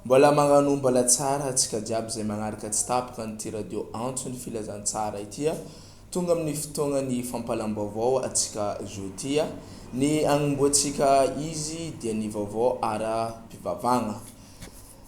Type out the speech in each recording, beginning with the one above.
Mbola magnano mbala tsara atsika jiaby zay magnaraka tsy tapaka an'ity radio antso ny filazantsara ity a! Tonga amin'ny fotoagnan'ny fampalam-baovao atsika zo ty a! Ny agnomboantsika izy dia ny vaovao ara-pivavahagna.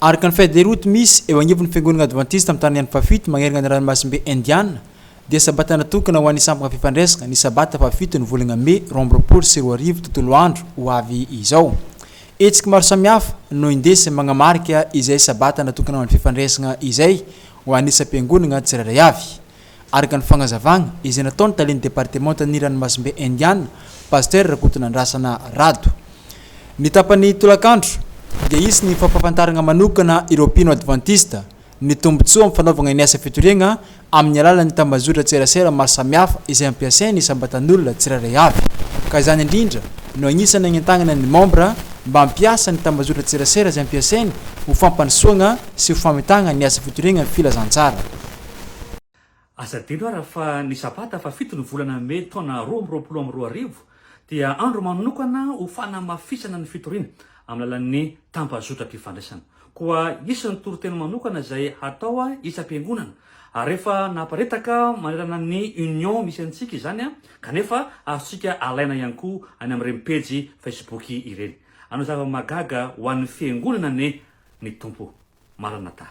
Arc ny feuille de route misy eo anivon'ny Fiangonana Advantista amin'ny Tanànan'i Fafito magnerana ny Ranomasimbe Indiana dia sabata natokana ho an'ny samboka fifandraisana ny sabata fahafito ny volana mey roa amby roapolo sy roa arivo tontolo andro ho avy izao hetsika maro samihafa no indesy manamarika izay sabata natokana ho an'ny fifandraisana izay ho an'isam-piangonana tsirairay avy Araka ny fagnazavagna izay nataon'ny talen'ny departemantan'ny Ranomasimbe Indiana, Pasitera Rakotonandrasana Rado, ny tapan'ny tolakandro dia hisy ny fampahafantaragna manokana ireo mpino advantista ny tombontsoa amin'ny fanaovagna ny asa fitoriagna amin'ny alalan'ny tambazotran-tserasera maro samihafa izay ampiasain'ny isam-batan'olona tsirairay avy ka izany indrindra no agnisan'ny agnentagnana ny mambra mba hampiasa ny tambazotran-tserasera izay ampiasainy ho fampandrosoagna sy ho famitagna ny asa fitoriagna ny filazantsara Aza adino ara fa ny sabata fahafito ny volana mey taona roa amby roapolo amby roa arivo dia andro manokana ho fanamafisana ny fitoriana amin'ny alalan'ny tambazotram-pifandraisana. Koa hisy ny toriteny manokana izay hatao isam-piangonana ary efa naparitaka manerana ny Union misy antsika izany kanefa azontsika alaina ihany koa any amin'ireny pejy Facebook ireny. Hanao zava-mahagaga ho an'ny fiangonana anie ny Tompo. Maranatha.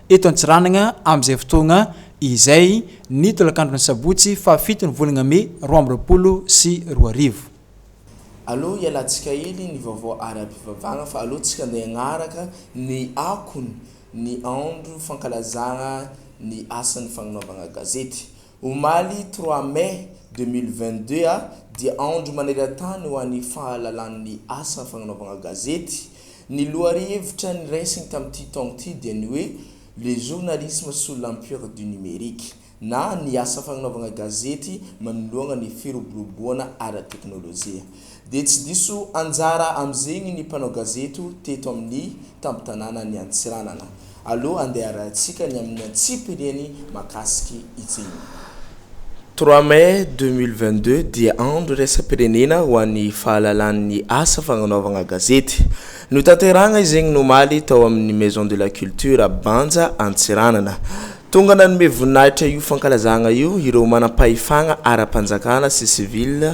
Eto Antsiranana, amin'izay fotoagna izay, ny tolakandron'ny sabotsy faha fito ny volagna mey roa amby roapolo sy roa arivo. Aleo hialantsika hely ny vaovao ara-pivavahana fa aleo tsika ndeha hagnaraka ny akony ny andro fankalazana ny asan'ny fagnanovana gazety. Omaly trois mai deux mille vingt-deux a dia andro maneran-tany ho an'ny fahalalan'ny asa fagnanaovagna gazety. Ny lohahevitra niraisigny tamin'ity taogno ity dia ny hoe Le journalisme sous l'empire du numérique na ny asa fagnanaovagna gazety manoloagna ny firoboroboagna ara-teknolojia. Dia tsy diso anjara amin'izegny ny mpanao gazeto teto amin'ny tampon-tanànan'i Antsiranana. Aleo andeha arahintsika ny amin'ny antsipiriany mahakasiky izegny. Trois mai deux mille vingt-deux dia andro iraisam-pirenena ho an'ny fahalalan'ny asa fagnanaovagna gazety. Notanterahagna izegny omaly tao amin'ny Maison de la Culture Banja Antsiranana. Tonga nanome voninahitra io fankalazagna io ireo manam-pahefagna ara-panjakana sy sivily,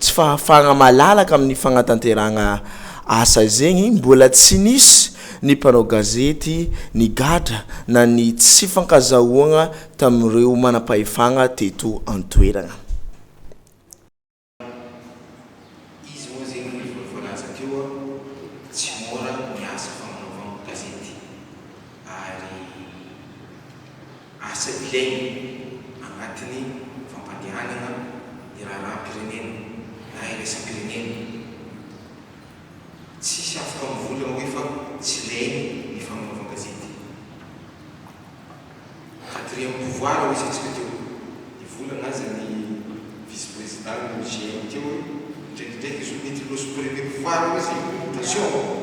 Tsy fahafahagna malalaka amin'ny fagnatanterahagna asa zegny, mbola tsy nisy ny mpanao gazety nigadra na ny tsy fankazahoagna tamin'ireo manam-pahefagna teto an-toeragna. Izy moa zegny le mbola voalaza teo, tsy môra ny asa fagnanaovagna gazety ary. Asa ilaina anatin'ny fampandehanana ny raharaham-pirenena na iraisam-pirenena. Tsisy afaka mivory amin'ny hoe fa tsy ilainy ny famonoan-gazety. Quatrième pouvoir hoy isika tsika teo. Nivolana aza ny vice-président ny GM teo hoe indraikindraiky izy io mety hiloha sous-préfet pouvoir hoy izy communication.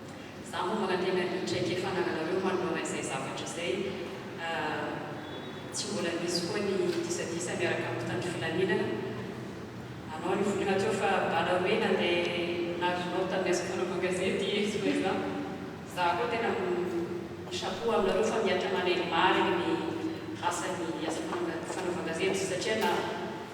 Za moa manantena ny traikefa anananareo manoloana izay zavatra izay. Tsy mbola nisy koa ny disadisa miaraka amin'ny mpitandro filaminana. Anao anie vonona teo fa bala hoe nandeha nazonao tamin'ny asako mpanao gazety i Zoeva. Za koa tena mi-chapeau aminareo fa mihatra manaiky marigny ny asan'ny asa fanaovan-gazety satria na.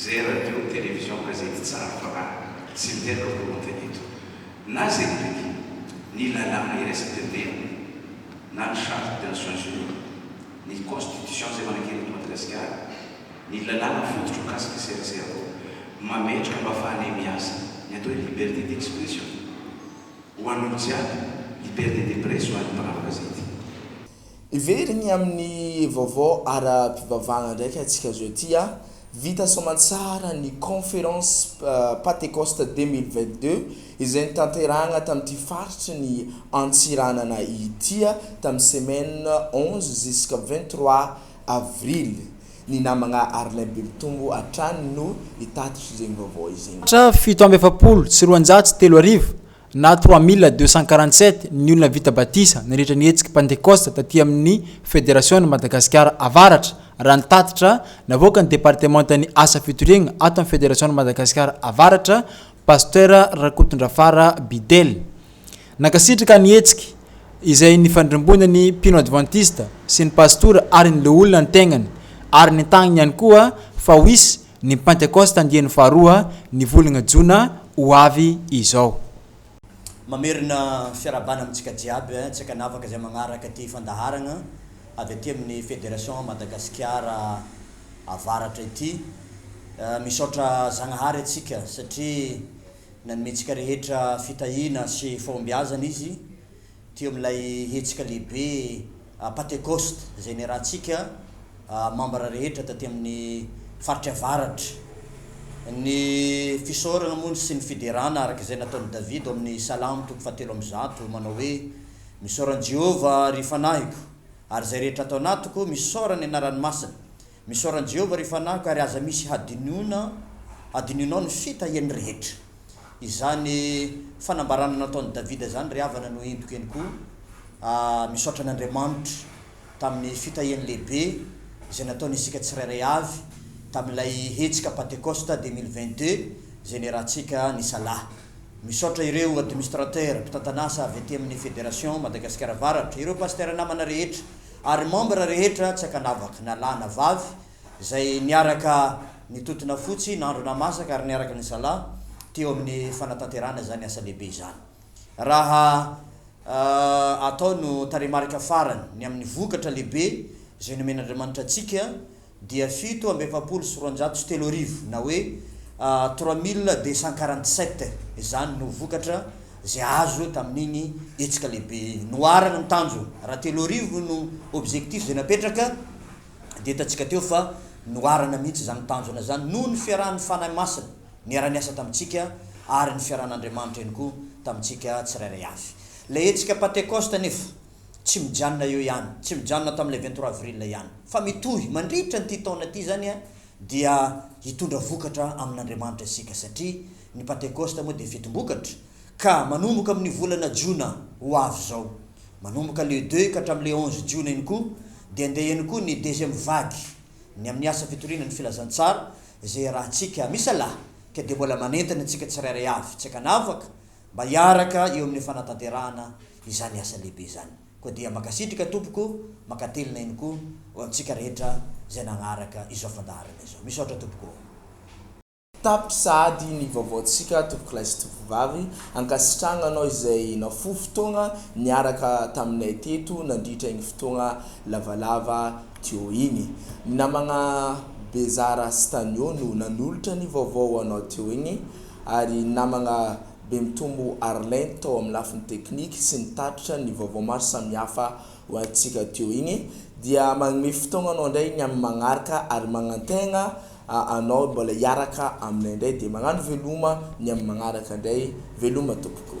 Zay radio, television, gazety tsara fanahy sy ny tena volonté eto. Na zay biby, ny lalàna iraisam-pirenena, na ny charte des Nations Unies, ny constitution zay manankery eto Madagasikara, ny lalàna fototra mikasika serasera koa mametraka mba afahanay miasa, ny atao hoe liberté d'expression ho an'olo jiaby, liberté de presse ho an'ny mpanao gazety. Heveriny amin'ny vaovao ara-pivavahana ndraika antsika zao ity a, vita soamantsara ny Conférence Patecoste 2022 izay notanterahina tamin'ity faritry ny Antsiranana ity tamin'ny semaine onze jusqu'à vingt trois avril. Ny namagna Arlin Bemitombo hatrany no hitatitra izegny vaovao izegny. Tra fito amby efapolo sy roanjato sy telo arivo na trois mille deux cent quarante sept, ny olona vita batisa nandritra ny hetsiky Pantekosta taty amin'ny Federasiona Madagasikara Avaratra, raha ny tatitra navoakan'ny Departemantan'ny Asa Fitoriagna ato amin'ny Federasiona Madagasikara Avaratra, Pasteur Rakotondrafara Bidel. Nankasitraka ny hetsiky izay nifandrimbona ny mpino advantista sy ny pastora ary ny loholona ny tegnany ary nitagniny ihany koa fa ho hisy Ny Pentekosta andiany faharoa ny volana jona ho avy izao. Mamerina fiarahabana amintsika jiaby tsy ankanavaka izay magnaraka ity fandaharagna avy aty amin'ny Federation Madagasikara Avaratra ity. Misaotra Zagnahary antsika satria nanomentsika rehetra fitahiana sy fahombiazana Izy. Teo amin'ilay hetsika lehibe Patekosta izay niarahantsika mambra rehetra taty amin'ny faritra avaratra. Ny fisaorana moa sy ny fiderana araka izay nataon'i Davida ao amin'ny Salamo toko fahatelo amby zato manao hoe, Misaora an'i Jehovah, ry fanahiko, ary izay rehetra ato anatiko, misaora ny anarany masina. Misaora an'i Jehovah, ry fanaka, ary aza misy hadinoina hadinonao ny fitahiany rehetra. Izany fanambarana nataon'i Davida izany ry havana no entiko eny koa, Aah, misaotra an'Andriamanitra tamin'ny fitahiany lehibe izay nataony isika tsirairay avy tamin'ilay hetsika Pantekosta deux mille vingt-deux izay niarahantsika nisalahy. Misaotra ireo Administrateurs, mpitantan'asa, avy aty amin'ny Federation Madagasikara Avaratra, ireo Pasteurs namana rehetra, ary membre rehetra tsy ankanavaka na lahy na vavy izay niaraka nitotona fotsy nandro namasaka ary niaraka nisalahy teo amin'ny fanatanterahana izany asa lehibe izany raha atao no tarehimarika farany ny amin'ny vokatra lehibe izay nomen'Andriamanitra antsika dia fito amby efapolo sy roanjato sy telo arivo na hoe trois mille deux cent quarante sept izany no vokatra izay azo tamin'iny hetsika lehibe iny. Noharana ny tanjona, raha telo arivo no objectif izay napetraka dia hitantsika teo fa noharana mihitsy izany tanjona izany noho ny fiarahan'ny Fanahy Masina niara-niasa tamintsika ary ny fiarahan'Andriamanitra ihany koa tamintsika tsirairay avy. Ilay hetsika Pantekosta anefa. Tsy mijanona eo ihany, tsy mijanona tamin'ilay vingt trois avril ihany, fa mitohy mandritra an'ity taona ity izany dia hitondra vokatra amin'Andriamanitra isika, satria ny Pantekosta moa dia fetim-bokatra, ka manomboka amin'ny volana jona ho avy izao, manomboka le deux ka hatramin'ilay onze jiona iny koa, dia handeha ihany koa ny deuxième vague, ny amin'ny asa fitoriana ny filazantsara, izay iarahantsika misalahy, ka dia mbola manentana antsika tsirairay avy, tsy ankanavaka, mba hiaraka eo amin'ny fanatanterahana izany asa lehibe izany. Koa dia mankasitraka tompoko, mankatelina ihany koa ho antsika rehetra izay nagnaraka izao fandaharana izao. Misaotra tompoko ô. Tapitra sahady ny vaovaontsika tompokolahy sy tompovavy, ankasitrahagna anao izay nafoy fotoagna niaraka taminay teto nandritra igny fotoagna lavalava teo igny. Ny namagna Bezara sy Tanio no nanolotra ny vaovao ho anao teo igny ary ny namagna Be mitombo Arlene tao amin'ny lafiny teknika sy nitatitra ny vaovao maro samihafa ho antsika teo igny dia magnome fotoagna anao ndray ny amin'ny magnaraka ary magnantegna anao mbola hiaraka aminay ndray dia magnano veloma ny amin'ny magnaraka ndray veloma tompoko.